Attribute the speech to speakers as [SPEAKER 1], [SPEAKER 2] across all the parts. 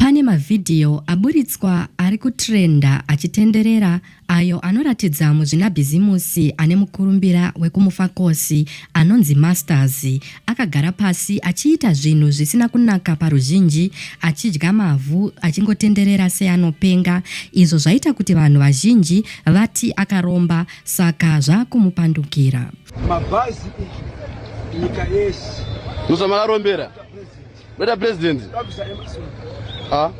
[SPEAKER 1] Pane mavhidhiyo aburitswa ari kutrenda achitenderera ayo anoratidza muzvinabhizimusi ane mukurumbira wekumufakosi anonzi Masters akagara pasi achiita zvinhu zvisina kunaka paruzhinji, achidya mavhu, achingotenderera seanopenga izvo zvaita kuti vanhu vazhinji vati akaromba saka zvakumupandukira. Mabhazi
[SPEAKER 2] nyika yese. Musa makarombera.
[SPEAKER 3] Weta president. Ah.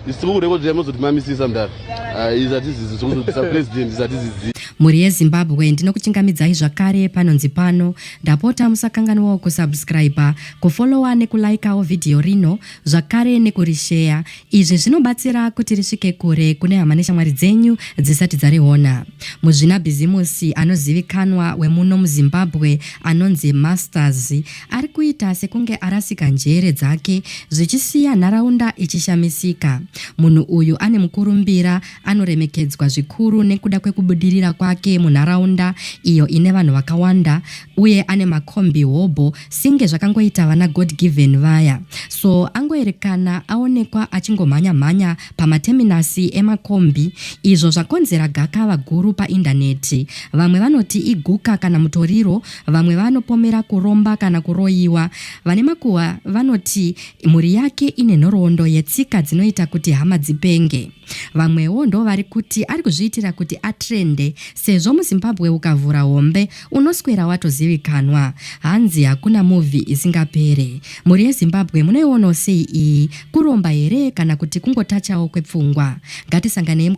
[SPEAKER 3] Isikukurekodza mozoti mamisisa mdara. Ah, izati zizi zokuzotisa president izati zizi. Mhuri yeZimbabwe
[SPEAKER 1] ndinokuchingamidzai zvakare panonzi pano ndapota musakanganwawo kusubscriber kufollowa nekulaikawo vhidhiyo rino zvakare nekurisheya izvi zvinobatsira kuti risvike kure kune hama neshamwari dzenyu dzisati dzariona muzvinabhizimusi anozivikanwa wemuno muzimbabwe anonzi masters Ari kuita sekunge arasika njere dzake zvichisiya nharaunda ichishamisika. Munhu uyu ane mukurumbira anoremekedzwa zvikuru nekuda kwekubudirira kwake munharaunda iyo ine vanhu vakawanda uye ane makombi hobho singe zvakangoita vana God Given vaya. So angoerekana aonekwa achingomhanya mhanya pamateminasi emakombi izvo zvakonzera gakava guru paindaneti. Vamwe vanoti iguka kana mutoriro Vamwe vanopomera kuromba kana kuroyiwa. Vane makuhwa vanoti mhuri yake ine nhoroondo yetsika dzinoita kuti hama dzipenge. Vamwewo ndovari kuti ari kuzviitira kuti atrende sezvo muZimbabwe ukavhura hombe unoswera watozivikanwa. Hanzi hakuna movie isingapere. Mhuri yeZimbabwe munoionawo sei iyi? Kuromba here kana kuti kungotachawo kwepfungwa? Ngatisanganei.